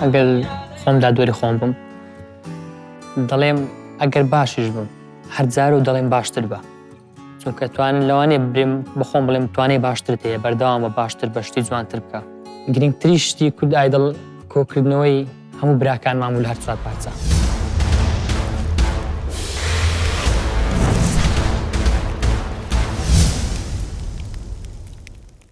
ئەگەر خۆم دادوەری خۆم بم دەڵێم ئەگەر باشیش بم هەر جار و دەڵێم باشتر بە چونکە توان لەوانێ برێم بەخۆم بڵێم توانێ باشترت هەیە بەردەوام بە باشتر بە شتی جوانتر بکە گرنگتری شتی کورد ئایدڵ کۆکردنەوەی هەموو براکان مامول هەر چوار پارچە.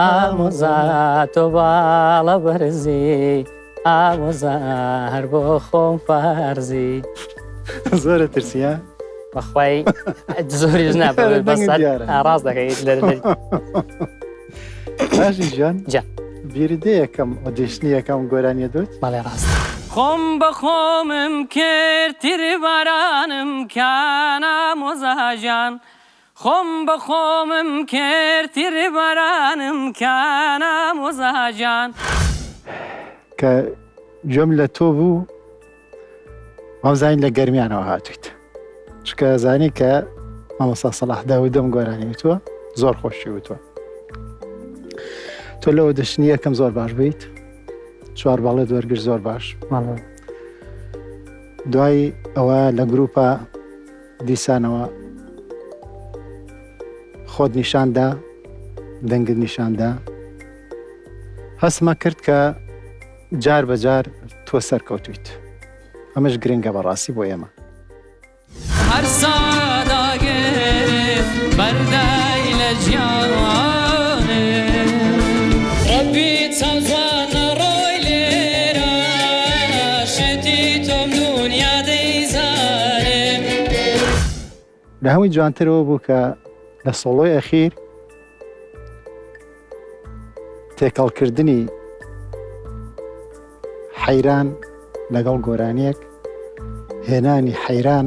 ئامۆزا تۆ باڵە بەرزی ئامۆزا هەر بۆ خۆم فارزی زۆرە ترسیە بەخوای زۆریش نابێت بەسەر ئاراز دەکەیت لەر باشی ژیان جا بیردەیەکەم و دێشتنیەکەم گۆرانیە دوت بەڵێ ڕاست خۆم بە خۆمم کرد تری بارانم کانامۆزاژان خۆم بە خۆمم کرد تیربارانم کە نامۆزا جان. کە گوێم لە تۆ بوو وامزانی لە گەرمیانەوە هاتوویت چکە زانی کە مامۆستا سەلاح داودەم گۆرانی وتووە زۆر خۆشی وتووە تۆ لەوە دەشنی یەکەم زۆر باش بیت چوار باڵێت وەرگر زۆر باش دوای ئەوە لە گروپە دیسانەوە خۆت نیشان دا، دەنگت نیشان دا. هەستمە کرد کە جار بە جار تۆ سەرکەوتوویت. ئەمەش گرنگە بە ڕاستی بۆ ئێمە. هەر سەعات ئاگرێک بەردەی لە جیانێک. ڕەبی چەند جوانە ڕۆی لێرە لە هەمووی جوانتر ئەوە بوو کە لە سۆڵۆی ئەخیر تێکەڵکردنی حەیران لەگەڵ گۆرانیەک هێنانی حەیران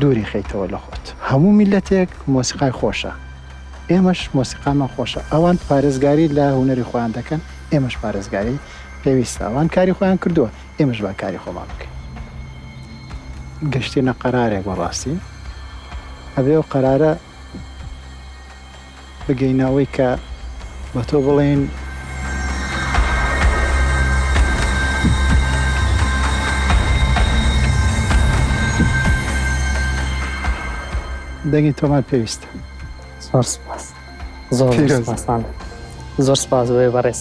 دووری خەیتەوە لە خۆت. هەموو میللەتێک مۆسیقای خۆشە ئێمەش مۆسیقامان خۆشە ئەوان پارێزگاری لە هونەری خۆیان دەکەن ئێمەش پارێزگاری پێویستە ئەوان کاری خۆیان کردووە ئێمەش با کاری خۆمان بکەین گەشتینە قەرارێک بەڕاستی ئەبێ و قەرارە بگەینە ئەوەی کە بە تۆ بڵێین. دەنگی تۆمان پێویستە. زۆر سپاس زۆر سپاس زۆر سپاس بۆیە بەڕێز.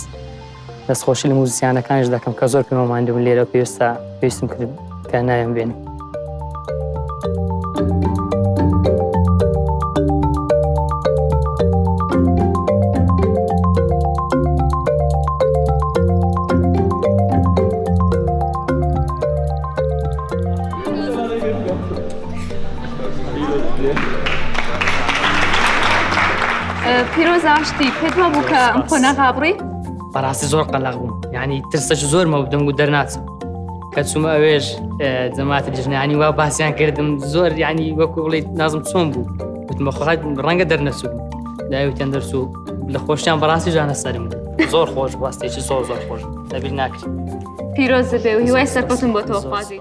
دەست خۆشی لە موزیسیانەکانش دەکەم کە زۆر پێمە ماندوون لێرە پێویستە پێویستم کرد کە ناوێن بێنی پیرۆزە شتی پێت وابوو کە ئەم قۆناغ هابڕی بەڕاستی زۆر قەلق بووم ینی ترسەش زۆر مەودم و دەرناچم کە چوومە ئەوێش جەماتی دژنانی وا باسییان کردم زۆر ینی وەکو بڵیت نازم چۆن بوو وتمە خۆت ڕەنگە دەرنەچوو داویتیان دەرچوو لە خۆشیان بەڕاستی جانە سەرم زۆر خۆش بەستێکی زۆر زۆر خۆش دەبیر ناکرێت پیرۆز بێ و هیوای سەرکەوتن بۆ تۆخوازی